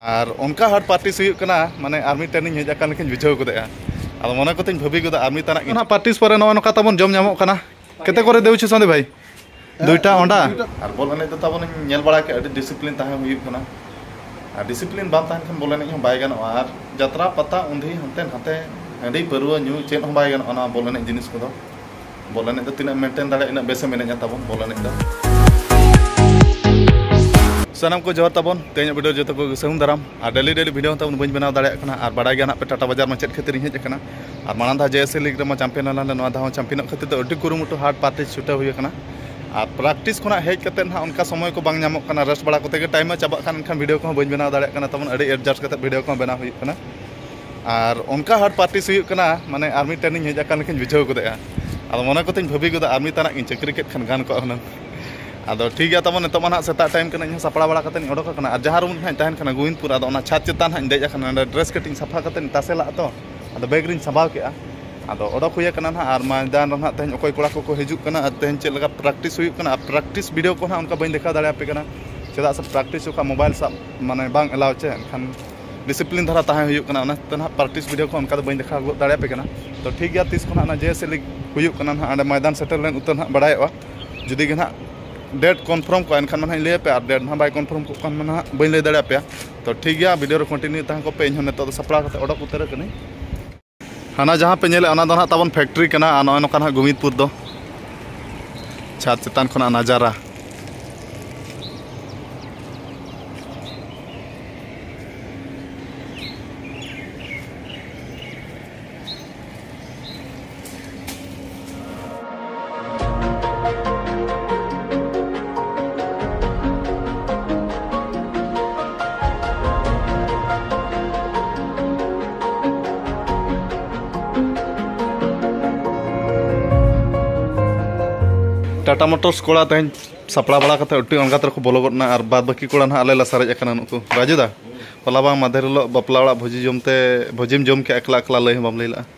ᱟᱨ ᱚᱱᱠᱟ hard practice ᱦᱩᱭᱩᱜ ᱠᱟᱱᱟ ᱢᱟᱱᱮ ᱟᱨ ᱢᱤᱫᱴᱮᱱ ᱤᱧ ᱦᱮᱡ ᱟᱠᱟᱱ ᱞᱮᱠᱟᱧ ᱵᱩᱡᱷᱟᱹᱣ ᱜᱚᱫᱮᱜᱼᱟ ᱟᱫᱚ ᱢᱚᱱᱮ ᱠᱚᱛᱮᱧ ᱵᱷᱟᱹᱵᱤ ᱜᱚᱫᱟ ᱟᱨ ᱢᱤᱫ ᱛᱟᱱᱟᱜ ᱜᱮ ᱯᱟᱨᱴᱤᱥ ᱯᱚᱨᱮ ᱱᱚᱜᱼᱚ ᱱᱚᱝᱠᱟ ᱛᱟᱵᱚᱱ ᱡᱚᱢ ᱧᱟᱢᱚᱜ ᱠᱟᱱᱟ ᱠᱮᱛᱮ ᱠᱚᱨᱮ ᱫᱮᱣᱪᱷᱩ ᱥᱟᱸᱫᱮ ᱵᱷᱟᱭ ᱫᱩᱭᱴᱟ ᱚᱸᱰᱟ ᱟᱨ ᱵᱚᱞ ᱮᱱᱮᱡ ᱫᱚ ᱛᱟᱵᱚᱱ ᱤᱧ ᱧᱮᱞ ᱵᱟᱲᱟ ᱠᱮᱫ ᱟᱹᱰᱤ ᱰᱤᱥᱤᱯᱞᱤᱱ ᱛᱟᱦᱮᱸ ᱦᱩᱭᱩᱜ ᱠᱟᱱᱟ ᱟᱨ ᱰᱤᱥᱤᱯᱞᱤᱱ ᱵᱟᱝ ᱛᱟᱦᱮᱱ ᱠᱷᱟᱱ ᱵᱚᱞ ᱮᱱᱮᱡ ᱦᱚᱸ ᱵᱟᱭ ᱜᱟᱱᱚᱜᱼᱟ ᱟᱨ ᱡᱟᱛᱨᱟ ᱯᱟᱛᱟ ᱩᱱᱫᱷᱤ ᱦᱟᱱᱛᱮ ᱱᱟᱛᱮ ᱦᱟᱺᱰᱤ ᱯᱟᱹᱨᱣᱟᱹ ᱧᱩ ᱪᱮᱫ ᱦᱚᱸ ᱵᱟᱭ ᱜᱟᱱᱚᱜᱼᱟ ᱱᱚᱣᱟ ᱵᱚᱞ ᱮᱱᱮᱡ ᱡᱤᱱᱤᱥ ᱠᱚᱫᱚ ᱵᱚᱞ ᱮᱱᱮᱡ ᱫᱚ ᱛᱤᱱᱟᱹᱜ ᱢᱮᱱᱴᱮᱱ ᱫᱟᱲᱮᱭᱟᱜᱼᱟ ᱤᱱᱟᱹᱜ ᱵᱮᱥᱮᱢ ᱮᱱᱮᱡᱟ ᱛᱟᱵᱚᱱ ᱵᱚᱞ ᱮᱱᱮᱡ ᱫᱚ ᱥᱟᱱᱟᱢ ᱠᱚ ᱡᱚᱦᱟᱨ ᱛᱟᱵᱚᱱ ᱛᱮᱦᱮᱧᱟᱜ ᱵᱷᱤᱰᱤᱭᱳ ᱡᱚᱛᱚ ᱠᱚ ᱥᱟᱹᱦᱩᱱ ᱫᱟᱨᱟᱢ ᱟᱨ ᱰᱮᱞᱤ ᱰᱮᱞᱤ ᱵᱷᱤᱰᱤᱭᱳ ᱛᱟᱵᱚᱱ ᱵᱟᱹᱧ ᱵᱮᱱᱟᱣ ᱫᱟᱲᱮᱭᱟᱜ ᱠᱟᱱᱟ ᱟᱨ ᱵᱟᱰᱟᱭ ᱜᱮᱭᱟ ᱱᱟᱜ ᱯᱮ ᱴᱟᱴᱟ ᱵᱟᱡᱟᱨ ᱢᱟ ᱪᱮᱫ ᱠᱷᱟᱹᱛᱤᱨ ᱤᱧ ᱦᱮᱡ ᱟᱠᱟᱱᱟ ᱟᱨ ᱢᱟᱲᱟᱝ ᱫᱷᱟᱣ ᱡᱮ ᱮᱥ ᱮ ᱞᱤᱜᱽ ᱨᱮᱢᱟ ᱪᱟᱢᱯᱤᱭᱟᱱ ᱟᱞᱟᱝ ᱱᱚᱣᱟ ᱫᱷᱟᱣ ᱪᱟᱢᱯᱤᱭᱟᱱᱚᱜ ᱠᱷᱟᱹᱛᱤᱨ ᱫᱚ ᱟᱹᱰᱤ ᱠᱩᱨᱩᱢᱩᱴᱩ ᱦᱟᱴ ᱯᱟᱨᱴᱤ ᱪᱷᱩᱴᱟᱹᱣ ᱦᱩᱭ ᱟᱠᱟᱱᱟ ᱟᱨ ᱯᱨᱮᱠᱴᱤᱥ ᱠᱷᱚᱱᱟᱜ ᱦᱮᱡ ᱠᱟᱛᱮ ᱱᱟᱜ ᱚᱱᱠᱟ ᱥᱚᱢᱚᱭ ᱠᱚ ᱵᱟᱝ ᱧᱟᱢᱚᱜ ᱠᱟᱱᱟ ᱨᱮᱥᱴ ᱵᱟᱲᱟ ᱠᱚᱛᱮ ᱜᱮ ᱴᱟᱭᱤᱢ ᱢᱟ ᱪᱟᱵᱟᱜ ᱠᱟᱱ ᱮᱱᱠᱷᱟᱱ ᱵᱷᱤᱰᱤᱭᱳ ᱠᱚᱦᱚᱸ ᱵᱟᱹᱧ ᱵᱮᱱᱟᱣ ᱫᱟᱲᱮᱭᱟᱜ ᱠᱟᱱᱟ ᱛᱟᱵᱚᱱ ᱟᱹᱰᱤ ᱮᱰᱡᱟᱥᱴ ᱠᱟᱛᱮ ᱵᱷᱤᱰᱤᱭᱳ ᱠᱚᱦᱚᱸ ᱵᱮᱱᱟᱣ ᱦᱩᱭᱩᱜ ᱠᱟᱱᱟ ᱟᱨ ᱚᱱᱠᱟ ᱦᱟᱨᱰ ᱯᱨᱮᱠᱴᱤᱥ ᱦᱩᱭᱩᱜ ᱠᱟᱱᱟ ᱢᱟᱱᱮ ᱟᱨ ᱢᱤᱫᱴᱮᱱ ᱤᱧ ᱦᱮᱡ ᱟᱠᱟᱱ ᱞᱮᱠᱟᱧ ᱵᱩᱡᱷᱟᱹᱣ ᱜᱚᱫᱮᱜᱼᱟ ᱟᱫᱚ ᱢᱚᱱᱮ ᱠᱚᱛᱮᱧ ᱵᱷᱟᱹᱵᱤ ᱜᱚᱫᱟ ᱟᱨ ᱢᱤᱫ ᱛᱟᱱᱟᱜ ᱜᱤᱧ ᱪᱟᱹᱠᱨᱤ ᱠᱮᱫ ᱠᱷᱟᱱ ᱜᱟᱱ ᱠᱚᱜᱼᱟ ᱦᱩᱱᱟᱹᱝ ᱟᱫᱚ ᱴᱷᱤᱠ ᱜᱮᱭᱟ ᱛᱟᱵᱚᱱ ᱱᱤᱛᱚᱜ ᱢᱟ ᱦᱟᱸᱜ ᱥᱮᱛᱟᱜ ᱴᱟᱭᱤᱢ ᱠᱟᱱᱟ ᱤᱧ ᱦᱚᱸ ᱥᱟᱯᱲᱟᱣ ᱵᱟᱲᱟ ᱠᱟᱛᱮᱫ ᱤᱧ ᱚᱰᱚᱠ ᱟᱠᱟᱱᱟ ᱟᱨ ᱡᱟᱦᱟᱸ ᱨᱩᱢ ᱨᱮ ᱦᱟᱸᱜ ᱤᱧ ᱛᱟᱦᱮᱱ ᱠᱟᱱᱟ ᱜᱳᱵᱤᱱᱫᱽᱯᱩᱨ ᱟᱫᱚ ᱚᱱᱟ ᱪᱷᱟᱫᱽ ᱪᱮᱛᱟᱱ ᱦᱟᱸᱜ ᱤᱧ ᱫᱮᱡ ᱟᱠᱟᱱᱟ ᱚᱸᱰᱮ ᱰᱨᱮᱥ ᱠᱟᱹᱴᱤᱡ ᱤᱧ ᱥᱟᱯᱷᱟ ᱠᱟᱛᱮᱫ ᱤᱧ ᱛᱟᱥᱮ ᱞᱟᱜᱼᱟ ᱛᱚ ᱟᱫᱚ ᱵᱮᱜᱽ ᱨᱤᱧ ᱥᱟᱸᱵᱟᱣ ᱠᱮᱜᱼᱟ ᱟᱫᱚ ᱚᱰᱚᱠ ᱦᱩᱭ ᱠᱟᱱᱟ ᱦᱟᱸᱜ ᱟᱨ ᱢᱚᱭᱫᱟᱱ ᱨᱮ ᱦᱟᱸᱜ ᱛᱮᱦᱮᱧ ᱚᱠᱚᱭ ᱠᱚᱲᱟ ᱠᱚᱠᱚ ᱦᱤᱡᱩᱜ ᱠᱟᱱᱟ ᱟᱨ ᱛᱮᱦᱮᱧ ᱪᱮᱫ ᱞᱮᱠᱟ ᱯᱨᱮᱠᱴᱤᱥ ᱦᱩᱭᱩᱜ ᱠᱟᱱᱟ ᱟᱨ ᱯᱨᱮᱠᱴᱤᱥ ᱵᱷᱤᱰᱭᱳ ᱠᱚ ᱦᱟᱸᱜ ᱚᱱᱠᱟ ᱵᱟᱹᱧ ᱫᱮᱠᱷᱟᱣ ᱫᱟᱲᱮᱭᱟᱯᱮ ᱠᱟᱱᱟ ᱪᱮᱫᱟᱜ ᱥᱮ ᱯᱨᱮᱠᱴᱤᱥ ᱡᱚᱠᱷᱚᱱ ᱢᱳᱵᱟᱭᱤᱞ ᱥᱟᱵ ᱢᱟᱱᱮ ᱵᱟᱝ ᱮᱞᱟᱣ ᱪᱮ ᱮᱱᱠᱷᱟᱱ ᱰᱤᱥᱤᱯᱞᱤᱱ ᱫᱷᱟᱨᱟ ᱛᱟᱦᱮᱸ ᱦᱩᱭᱩᱜ ᱠᱟᱱᱟ ᱚᱱᱟ ᱛᱮ ᱱᱟᱦᱟᱜ ᱯᱨᱮᱠᱴᱤᱥ ᱵᱷᱤᱰᱤᱭᱳ ᱠᱚ ᱚᱱᱠᱟ ᱫᱚ ᱵᱟᱹᱧ ᱫᱮᱠᱷᱟᱣ ᱜᱚᱫ ᱫᱟᱲᱮᱭᱟᱯᱮ ᱠᱟᱱᱟ ᱛᱚ ᱴᱷᱤᱠ ᱜᱮᱭᱟ ᱛᱤᱥ ᱠᱷᱚᱱᱟᱜ ᱚᱱᱟ ᱡᱮ ᱮᱥ ᱮ ᱞᱤᱜᱽ ᱦᱩᱭᱩᱜ ᱠᱟᱱᱟ ᱱᱟᱦᱟᱜ ᱚᱸᱰᱮ ᱢᱚᱭᱫᱟᱱ ᱥᱮᱴᱮᱨ ᱞᱮᱱ ᱩᱛᱟᱹᱨ ᱱᱟᱦᱟᱜ ᱵᱟᱲᱟᱭᱚᱜᱼᱟ ᱡᱩᱫᱤ ᱜᱮ ᱱᱟᱦᱟᱜ ᱰᱮᱴ ᱠᱚᱱᱯᱷᱟᱨᱢ ᱠᱚᱜᱼᱟ ᱮᱱᱠᱷᱟᱱ ᱢᱟ ᱱᱟᱦᱟᱜ ᱤᱧ ᱞᱟᱹᱭᱟᱯᱮᱭᱟ ᱟᱨ ᱰᱮᱴ ᱱᱟᱦᱟᱜ ᱵᱟᱭ ᱠᱚᱱᱯᱷᱟᱨᱢ ᱠᱚᱜ ᱠᱷᱟᱱ ᱢᱟ ᱱᱟᱦᱟᱜ ᱵᱟᱹᱧ ᱞᱟᱹᱭ ᱫᱟᱲᱮᱭᱟᱯᱮᱭᱟ ᱛᱚ ᱴᱷᱤᱠ ᱜᱮᱭᱟ ᱵᱷᱤᱰᱤᱭᱳ ᱨᱮ ᱠᱚᱱᱴᱤᱱᱤᱭᱩ ᱛᱟᱦᱮᱸ ᱠᱚᱜ ᱯᱮ ᱤᱧ ᱦᱚᱸ ᱱᱤᱛᱚᱜ ᱫᱚ ᱥᱟᱯᱲᱟᱣ ᱠᱟᱛᱮᱫ ᱚᱰᱚᱠ ᱩᱛᱟᱹᱨᱚᱜ ᱠᱟᱹᱱᱟᱹᱧ ᱦᱟᱱᱟ ᱡᱟᱦᱟᱸ ᱯᱮ ᱧᱮᱞᱮᱫ ᱚᱱᱟ ᱫᱚ ᱱᱟᱦᱟᱜ ᱛᱟᱵᱚᱱ ᱯᱷᱮᱠᱴᱨᱤ ᱠᱟᱱᱟ ᱟᱨ ᱱᱚᱜᱼᱚᱭ ᱱᱚᱝᱠᱟ ᱱᱟᱦᱟᱜ ᱜᱳᱢᱤᱫᱯᱩᱨ ᱫᱚ ᱪᱷᱟᱫᱽ ᱪᱮᱛᱟᱱ ᱠᱷᱚᱱᱟᱜ ᱱᱟᱡᱟᱨᱟ ᱴᱟᱴᱟ ᱢᱚᱴᱚᱨᱥ ᱠᱚᱲᱟ ᱛᱮᱦᱮᱧ ᱥᱟᱯᱲᱟᱣ ᱵᱟᱲᱟ ᱠᱟᱛᱮ ᱟᱹᱰᱤ ᱚᱱᱜᱟᱛ ᱨᱮᱠᱚ ᱵᱚᱞᱚ ᱜᱚᱫᱱᱟ ᱟᱨ ᱵᱟᱫ ᱵᱟᱹᱠᱤ ᱠᱚᱲᱟ ᱱᱟᱦᱟᱜ ᱟᱞᱮ ᱞᱮ ᱥᱟᱨᱮᱡ ᱟᱠᱟᱱᱟ ᱱᱩᱠᱩ ᱨᱟᱡᱩᱫᱟ ᱦᱚᱞᱟ ᱵᱟᱝ ᱢᱟᱫᱷᱮᱨ ᱦᱤᱞᱳᱜ ᱵᱟᱯᱞᱟ ᱚᱲᱟᱜ ᱵᱷᱚᱡᱤ ᱡᱚᱢᱛᱮ ᱵᱷᱚᱡᱤᱢ ᱡᱚᱢ ᱠᱮᱜᱼᱟ ᱮᱠᱞᱟ ᱮᱠᱞᱟ ᱞᱟᱹᱭ ᱦᱚᱸ ᱵᱟᱢ ᱞᱟᱹᱭ ᱞᱮᱜᱼᱟ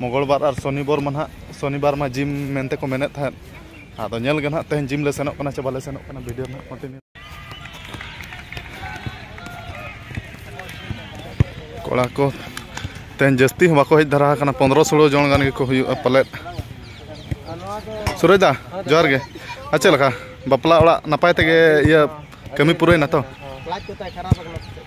ᱢᱚᱝᱜᱚᱞᱵᱟᱨ ᱟᱨ ᱥᱚᱱᱤᱵᱟᱨ ᱢᱟ ᱱᱟᱦᱟᱜ ᱥᱚᱱᱤᱵᱟᱨ ᱢᱟ ᱡᱤᱢ ᱢᱮᱱᱛᱮ ᱠᱚ ᱢᱮᱱᱮᱫ ᱛᱟᱦᱮᱸᱫ ᱟᱫᱚ ᱧᱮᱞ ᱜᱮ ᱱᱟᱦᱟᱜ ᱛᱮᱦᱮᱧ ᱡᱤᱢ ᱞᱮ ᱥᱮᱱᱚᱜ ᱠᱟᱱᱟ ᱥᱮ ᱵᱟᱞᱮ ᱥᱮᱱᱚᱜ ᱠᱟᱱᱟ ᱵᱷᱤᱰᱤᱭᱳ ᱱᱟᱦᱟᱜ ᱠᱚᱱᱴᱤᱱᱤᱭᱩ ᱠᱚᱲᱟ ᱠᱚ ᱛᱮᱦᱮᱧ ᱡᱟᱹᱥᱛᱤ ᱦᱚᱸ ᱵᱟᱠᱚ ᱦᱮᱡ ᱫᱷᱟᱨᱟ ᱟᱠᱟᱱᱟ ᱯᱚᱱᱨᱚ ᱥᱳᱞᱳ ᱡᱚᱱ ᱜᱟᱱ ᱜᱮᱠᱚ ᱦᱩᱭᱩᱜᱼᱟ ᱯᱟᱞᱮᱫ ᱥᱩᱨᱚᱡᱽ ᱫᱟ ᱡᱚᱦᱟᱨ ᱜᱮ ᱟᱨ ᱪᱮᱫ ᱞᱮᱠᱟ ᱵᱟᱯᱞᱟ ᱚᱲᱟᱜ ᱱᱟᱯᱟᱭ ᱛᱮᱜᱮ ᱤᱭᱟᱹ ᱠᱟᱹᱢᱤ ᱯᱩᱨᱟᱹᱭᱮᱱᱟ ᱛᱚ ᱞᱟᱡ ᱠᱚ ᱛᱟᱭ ᱠᱷᱟᱨᱟᱯ ᱟᱠᱟᱱᱟ ᱥᱮ ᱪᱮᱫ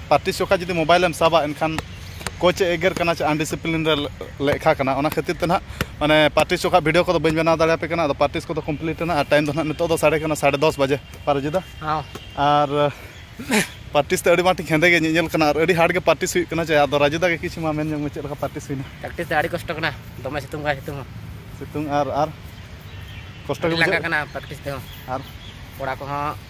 ᱯᱟᱨᱴᱤ ᱥᱚᱠᱷᱟ ᱡᱩᱫᱤ ᱢᱳᱵᱟᱭᱤᱞ ᱮᱢ ᱥᱟᱵᱟ ᱮᱱᱠᱷᱟᱱ ᱠᱳᱪ ᱮ ᱮᱜᱮᱨ ᱠᱟᱱᱟ ᱪᱮ ᱟᱱᱰᱤᱥᱤᱯᱞᱤᱱ ᱨᱮ ᱞᱮᱠᱷᱟ ᱠᱟᱱᱟ ᱚᱱᱟ ᱠᱷᱟᱹᱛᱤᱨ ᱛᱮ ᱱᱟᱦᱟᱜ ᱢᱟᱱᱮ ᱯᱟᱨᱴᱤ ᱥᱚᱠᱷᱟ ᱵᱷᱤᱰᱤᱭᱳ ᱠᱚᱫᱚ ᱵᱟᱹᱧ ᱵᱮᱱᱟᱣ ᱫᱟᱲᱮᱭᱟᱯᱮ ᱠᱟᱱᱟ ᱟᱫᱚ ᱯᱟᱨᱴᱤᱥ ᱠᱚᱫᱚ ᱠᱚᱢᱯᱞᱤᱴ ᱮᱱᱟ ᱟᱨ ᱴᱟᱭᱤᱢ ᱫᱚ ᱱᱟᱦᱟᱜ ᱱᱤᱛᱚᱜ ᱫᱚ ᱥᱟᱲᱮ ᱠᱟᱱᱟ ᱥᱟᱲᱮ ᱫᱚᱥ ᱵᱟᱡᱮ ᱯᱟᱨᱚᱡᱤᱫᱟ ᱟᱨ ᱯᱟᱨᱴᱤᱥ ᱛᱮ ᱟᱹᱰᱤ ᱢᱟᱴᱤᱧ ᱦᱮᱸᱫᱮ ᱜᱮ ᱧᱮᱧᱮᱞ ᱠᱟᱱᱟ ᱟᱨ ᱟᱹᱰᱤ ᱦᱟᱨᱰ ᱜᱮ ᱯᱟᱨᱴᱤᱥ ᱦᱩᱭᱩᱜ ᱠᱟᱱᱟ ᱪᱮ ᱟᱫᱚ ᱨᱟᱡᱩᱫᱟ ᱜᱮ ᱠᱤᱪᱷᱩ ᱢᱟ ᱢᱮᱱ ᱧᱚᱜ ᱢᱮ ᱪᱮᱫ ᱞᱮᱠᱟ ᱯᱟᱨᱴᱤᱥ ᱦᱩᱭᱱᱟ ᱯᱨᱮᱠᱴᱤᱥ ᱫᱚ ᱟᱹᱰᱤ ᱠᱚᱥᱴᱚ ᱠᱟᱱᱟ ᱫᱚᱢᱮ ᱥᱤᱛᱩᱝ ᱠᱟᱱᱟ ᱥᱤᱛᱩᱝ ᱦᱚᱸ ᱥᱤᱛᱩᱝ ᱟᱨ ᱟᱨ ᱠᱚᱥᱴᱚ ᱜᱮ ᱞᱟᱸᱜᱟ ᱠᱟᱱᱟ ᱯᱨᱮᱠᱴᱤᱥ ᱛᱮᱦᱚᱸ ᱟᱨ ᱠᱚᱲᱟ ᱠᱚᱦᱚᱸ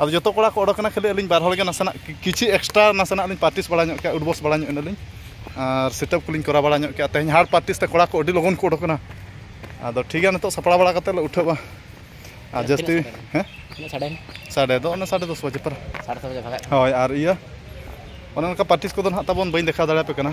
ᱟᱫᱚ ᱡᱚᱛᱚ ᱠᱚᱲᱟ ᱠᱚ ᱚᱰᱚᱠᱮᱱᱟ ᱠᱷᱟᱹᱞᱤ ᱟᱹᱞᱤᱧ ᱵᱟᱨ ᱦᱚᱲ ᱜᱮ ᱱᱟᱥᱮᱱᱟᱜ ᱠᱤᱪᱷᱩ ᱮᱠᱥᱴᱨᱟ ᱱᱟᱥᱮᱱᱟᱜ ᱞᱤᱧ ᱯᱨᱮᱠᱴᱤᱥ ᱵᱟᱲᱟ ᱧᱚᱜ ᱠᱮᱜᱼᱟ ᱩᱰᱵᱚᱥ ᱵᱟᱲᱟ ᱧᱚᱜ ᱮᱱᱟᱞᱤᱧ ᱟᱨ ᱥᱤᱴᱟᱯ ᱠᱚᱞᱤᱧ ᱠᱚᱨᱟᱣ ᱵᱟᱲᱟ ᱧᱚᱜ ᱠᱮᱜᱼᱟ ᱛᱮᱦᱮᱧ ᱦᱟᱨᱰ ᱯᱨᱮᱠᱴᱤᱥ ᱛᱮ ᱠᱚᱲᱟ ᱠᱚ ᱟᱹᱰᱤ ᱞᱚᱜᱚᱱ ᱠᱚ ᱚᱰᱚᱠᱮᱱᱟ ᱟᱫᱚ ᱴᱷᱤᱠ ᱜᱮᱭᱟ ᱱᱤᱛᱚᱜ ᱥᱟᱯᱲᱟᱣ ᱵᱟᱲᱟ ᱠᱟᱛᱮᱫ ᱞᱮ ᱩᱴᱷᱟᱹᱜᱼᱟ ᱟᱨ ᱡᱟᱹᱥᱛᱤ ᱦᱮᱸ ᱛᱤᱱᱟᱹᱜ ᱥᱟᱰᱮᱭᱮᱱᱟ ᱥᱟᱰᱮ ᱫᱚ ᱚᱱᱟ ᱥᱟᱰᱮ ᱫᱚᱥ ᱵᱟᱡᱮ ᱯᱚᱨ ᱥᱟᱲᱮ ᱫᱚᱥ ᱵᱟᱡᱮ ᱵᱷᱟᱜᱟᱜ ᱠᱟᱱᱟ ᱦᱳᱭ ᱟᱨ ᱤᱭᱟᱹ ᱚᱱᱮ ᱚᱱᱠᱟ ᱯᱨᱮᱠᱴᱤᱥ ᱠᱚᱫᱚ ᱱᱟᱦᱟᱜ ᱛᱟᱵᱚᱱ ᱵᱟᱹᱧ ᱫᱮᱠᱷᱟᱣ ᱫᱟᱲᱮᱭᱟᱯᱮ ᱠᱟᱱᱟ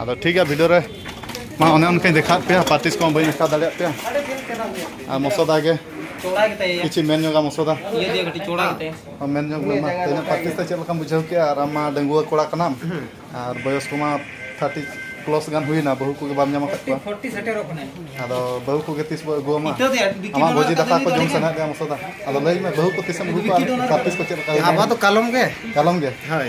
ᱟᱫᱚ ᱴᱷᱤᱠ ᱜᱮᱭᱟ ᱵᱷᱤᱰᱤᱭᱳ ᱨᱮ ᱢᱟ ᱚᱱᱮ ᱚᱱᱠᱟᱧ ᱫᱮᱠᱷᱟᱣᱮᱫ ᱯᱮᱭᱟ ᱯᱟᱨᱴᱤᱥ ᱠᱚ ᱵᱟᱹᱧ ᱫᱮᱠᱷᱟᱣ ᱫᱟᱲᱮᱭᱟᱜ ᱯᱮᱭᱟ ᱟᱨ ᱢᱚᱥᱚᱫᱟ ᱜᱮ ᱠᱤᱪᱷᱩ ᱢᱮᱱ ᱧᱚᱜᱟ ᱢᱚᱥᱚᱫᱟ ᱢᱮᱱ ᱧᱚᱜ ᱢᱮ ᱢᱟ ᱛᱮᱦᱮᱧ ᱯᱟᱨᱴᱤᱥ ᱛᱮ ᱪᱮᱫ ᱞᱮᱠᱟᱢ ᱵᱩᱡᱷᱟᱹᱣ ᱠᱮᱜᱼᱟ ᱟᱨ ᱟᱢ ᱢᱟ ᱰᱟᱺᱜᱩᱣᱟᱹ ᱠᱚᱲᱟ ᱠᱟᱱᱟᱢ ᱟᱨ ᱵᱚᱭᱚᱥ ᱠᱚᱢᱟ ᱛᱷᱟᱨᱴᱤ ᱯᱞᱚᱥ ᱜᱟᱱ ᱦᱩᱭᱱᱟ ᱵᱟᱹᱦᱩ ᱠᱚᱜᱮ ᱵᱟᱢ ᱧᱟᱢ ᱟᱠᱟᱫ ᱠᱚᱣᱟ ᱟᱫᱚ ᱵᱟᱹᱦᱩ ᱠᱚᱜᱮ ᱛᱤᱥ ᱵᱚ ᱟᱹᱜᱩᱣᱟᱢᱟ ᱟᱢᱟᱜ ᱵᱷᱚᱡᱤ ᱫᱟᱠᱟ ᱠᱚ ᱡᱚᱢ ᱥᱟᱱᱟᱭᱮᱫ ᱢᱮᱭᱟ ᱢᱚᱥᱚᱫᱟ ᱟᱫᱚ ᱞᱟᱹᱭ ᱢᱮ ᱵᱟᱹᱦᱩ ᱠᱚ ᱛᱤᱥᱮᱢ ᱟᱹᱜᱩ ᱠᱚᱣᱟ ᱯᱨᱮᱠᱴᱤᱥ ᱠᱚ ᱪᱮᱫ ᱞᱮᱠᱟ ᱟᱵᱚ ᱫᱚ ᱠᱟᱞᱚᱢ ᱜᱮ ᱠᱟᱞᱚᱢ ᱜᱮ ᱦᱳᱭ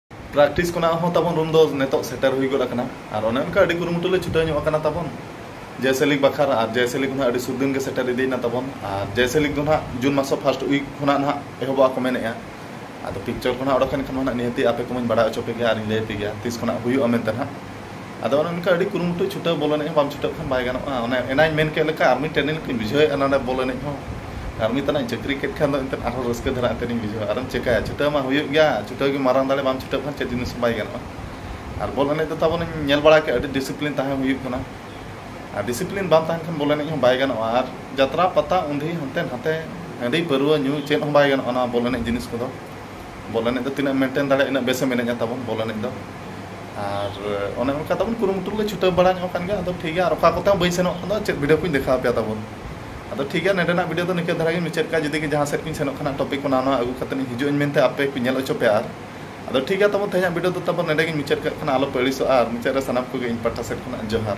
ᱯᱨᱮᱠᱴᱤᱥ ᱠᱷᱚᱱᱟᱜ ᱦᱚᱸ ᱛᱟᱵᱚᱱ ᱨᱩᱢ ᱫᱚ ᱱᱤᱛᱚᱜ ᱥᱮᱴᱮᱨ ᱦᱩᱭ ᱜᱚᱫ ᱟᱠᱟᱱᱟ ᱟᱨ ᱚᱱᱮ ᱚᱱᱠᱟ ᱟᱹᱰᱤ ᱠᱩᱨᱩᱢᱩᱴᱩ ᱞᱮ ᱪᱷᱩᱴᱟᱹᱣ ᱧᱚᱜ ᱟᱠᱟᱱᱟ ᱛᱟᱵᱚᱱ ᱡᱮᱭᱥᱮ ᱞᱤᱜᱽ ᱵᱟᱠᱷᱨᱟ ᱟᱨ ᱡᱮᱭᱥᱮ ᱞᱤᱜᱽ ᱦᱚᱸ ᱟᱹᱰᱤ ᱥᱩᱨ ᱫᱤᱱ ᱜᱮ ᱥᱮᱴᱮᱨ ᱤᱫᱤᱭᱮᱱᱟ ᱛᱟᱵᱚᱱ ᱟᱨ ᱡᱮᱭᱥᱮ ᱞᱤᱜᱽ ᱫᱚ ᱱᱟᱦᱟᱜ ᱡᱩᱱ ᱢᱟᱥ ᱯᱷᱟᱨᱥᱴ ᱩᱭᱤᱠ ᱠᱷᱚᱱᱟᱜ ᱱᱟᱦᱟᱜ ᱮᱦᱚᱵᱚᱜᱼᱟ ᱠᱚ ᱢᱮᱱᱮᱜᱼᱟ ᱟᱫᱚ ᱯᱤᱠᱪᱟᱨ ᱠᱚ ᱱᱟᱦᱟᱜ ᱚᱰᱚᱠ ᱮᱱ ᱠᱷᱟᱱ ᱱᱟᱦᱟᱜ ᱱᱤᱦᱟᱹᱛᱤ ᱟᱯᱮ ᱠᱚᱢᱟᱧ ᱵᱟᱲᱟᱭ ᱦᱚᱪᱚ ᱯᱮᱜᱮᱭᱟ ᱟᱨᱤᱧ ᱞᱟᱹᱭ ᱟᱯᱮ ᱜᱮᱭᱟ ᱛᱤᱥ ᱠᱷᱚᱱᱟᱜ ᱦᱩᱭᱩᱜᱼᱟ ᱢᱮᱱᱛᱮ ᱱᱟᱦᱟᱜ ᱟᱫᱚ ᱚᱱᱮ ᱚᱱᱠᱟ ᱟᱹᱰᱤ ᱠᱩᱨᱩᱢᱩᱴᱩ ᱪᱷᱩᱴᱟᱹᱣ ᱵᱚᱞ ᱮᱱᱮᱡ ᱦᱚᱸ ᱵᱟᱢ ᱪᱷᱩᱴᱟᱹᱜ ᱠᱷᱟᱱ ᱵᱟᱭ ᱜᱟᱱᱚᱜᱼᱟ ᱚᱱᱮ ᱮᱱᱟᱱᱤᱧ ᱢᱮᱱ ᱠᱮᱫ ᱞᱮᱠᱟ ᱟᱨᱢᱤ ᱴᱨᱮᱱᱤᱝ ᱞᱮᱠᱟᱧ ᱵᱩᱡᱷᱟᱹᱣᱮᱫᱼᱟ ᱱᱚᱰᱮ ᱵᱚᱞ ᱮᱱᱮᱡ ᱦᱚᱸ ᱟᱨᱢᱤ ᱛᱟᱱᱟᱜ ᱤᱧ ᱪᱟᱹᱠᱨᱤ ᱠᱮᱫ ᱠᱷᱟᱱ ᱫᱚ ᱮᱱᱛᱮᱫ ᱟᱨᱦᱚᱸ ᱨᱟᱹᱥᱠᱟᱹ ᱫᱷᱟᱨᱟ ᱮᱱᱛᱮᱫ ᱤᱧ ᱵᱩᱡᱷᱟᱹᱣᱟ ᱟᱨᱮᱢ ᱪᱤᱠᱟᱹᱭᱟ ᱪᱷᱩᱴᱟᱹᱣ ᱢᱟ ᱦᱩᱭᱩᱜ ᱜᱮᱭᱟ ᱪᱷᱩᱴᱟᱹᱣ ᱜᱮ ᱢᱟᱨᱟᱝ ᱫᱟᱲᱮ ᱵᱟᱢ ᱪᱷᱩᱴᱟᱹᱜ ᱠᱷᱟᱱ ᱪᱮᱫ ᱡᱤᱱᱤᱥ ᱦᱚᱸ ᱵᱟᱭ ᱜᱟᱱᱚᱜᱼᱟ ᱟᱨ ᱵᱚᱞ ᱮᱱᱮᱡ ᱫᱚ ᱛᱟᱵᱚᱱ ᱤᱧ ᱧᱮᱞ ᱵᱟᱲᱟ ᱠᱮᱫᱼᱟ ᱟᱹᱰᱤ ᱰᱤᱥᱤᱯᱞᱤᱱ ᱛᱟᱦᱮᱸ ᱦᱩᱭᱩᱜ ᱠᱟᱱᱟ ᱟᱨ ᱰᱤᱥᱤᱯᱞᱤᱱ ᱵᱟᱝ ᱛᱟᱦᱮᱱ ᱠᱷᱟᱱ ᱵᱚᱞ ᱮᱱᱮᱡ ᱦᱚᱸ ᱵᱟᱭ ᱜᱟᱱᱚᱜᱼᱟ ᱟᱨ ᱡᱟᱛᱨᱟ ᱯᱟᱛᱟ ᱩᱱᱫᱷᱤ ᱦᱟᱱᱛᱮ ᱱᱷᱟᱛᱮ ᱦᱟᱺᱰᱤ ᱯᱟᱹᱨᱣᱟᱹ ᱧᱩ ᱪᱮᱫ ᱦᱚᱸ ᱵᱟᱭ ᱜᱟᱱᱚᱜᱼᱟ ᱱᱚᱣᱟ ᱵᱚᱞ ᱮᱱᱮᱡ ᱡᱤᱱᱤᱥ ᱠᱚᱫᱚ ᱵᱚᱞ ᱮᱱᱮᱡ ᱫᱚ ᱛᱤᱱᱟᱹᱜ ᱢᱮᱱᱴᱮᱱ ᱫᱟᱲᱮᱭᱟᱜᱼᱟ ᱤᱱᱟᱹᱜ ᱵᱮᱥᱮᱢ ᱮᱱᱮᱡᱟ ᱛᱟᱵᱚᱱ ᱵᱚᱞ ᱮᱱᱮᱡ ᱫᱚ ᱟᱨ ᱚᱱᱮ ᱚᱱᱠᱟ ᱛᱟᱵᱚᱱ ᱠᱩᱨᱩᱢᱩᱴᱩ ᱨᱮᱞᱮ ᱪᱷᱩᱴᱟᱹᱣ ᱵᱟᱲᱟ ᱧᱚᱜ ᱟᱠᱟᱱ ᱜᱮᱭᱟ ᱟᱫᱚ ᱴᱷᱤᱠ ᱜᱮᱭᱟ ᱟᱨ ᱚᱠᱟ ᱠᱚᱛᱮ ᱦᱚᱸ ᱵᱟᱹᱧ ᱥᱮᱱᱚᱜ ᱠᱟᱱᱟ ᱪᱮᱫ ᱵᱷᱤᱰᱤᱭᱳ ᱠᱚᱧ ᱫᱮᱠᱷᱟᱣ ᱟᱯᱮᱭᱟ ᱛᱟᱵᱚᱱ ᱟᱫᱚ ᱴᱷᱤᱠ ᱜᱮᱭᱟ ᱱᱚᱰᱮᱱᱟᱜ ᱵᱷᱤᱰᱤᱭᱳ ᱫᱚ ᱱᱤᱝᱠᱟᱹ ᱫᱷᱟᱨᱟ ᱜᱮᱧ ᱢᱩᱪᱟᱹᱫ ᱠᱟᱜᱼᱟ ᱡᱩᱫᱤ ᱡᱟᱦᱟᱸ ᱥᱮᱫ ᱜᱤᱧ ᱥᱮᱱᱚᱜ ᱠᱟᱱᱟ ᱴᱚᱯᱤᱠ ᱠᱚ ᱱᱟᱣᱟ ᱱᱟᱣᱟ ᱟᱹᱜᱩ ᱠᱟᱛᱮ ᱤᱧ ᱦᱤᱡᱩᱜ ᱟᱹᱧ ᱢᱮᱱᱛᱮ ᱟᱯᱮ ᱠᱚᱧ ᱧᱮᱞ ᱦᱚᱪᱚ ᱯᱮᱭᱟ ᱟᱨ ᱟᱫᱚ ᱴᱷᱤᱠ ᱜᱮᱭᱟ ᱛᱟᱵᱚᱱ ᱛᱮᱦᱮᱧᱟᱜ ᱵᱷᱤᱰᱤᱭᱳ ᱫᱚ ᱛᱟᱵᱚᱱ ᱱᱚᱰᱮ ᱜᱤᱧ ᱢᱩᱪᱟᱹᱫ ᱠᱟᱜ ᱠᱟᱱᱟ ᱟᱞᱚ ᱯᱮ ᱟᱹᱲᱤᱥᱚᱜᱼᱟ ᱟᱨ ᱢᱩᱪᱟᱹᱫ ᱨᱮ ᱥᱟᱱᱟᱢ ᱠᱚᱜᱮ ᱤᱧ ᱯᱟᱦᱴᱟ ᱥᱮᱫ ᱠᱷᱚᱱᱟᱜ ᱡᱚᱦᱟᱨ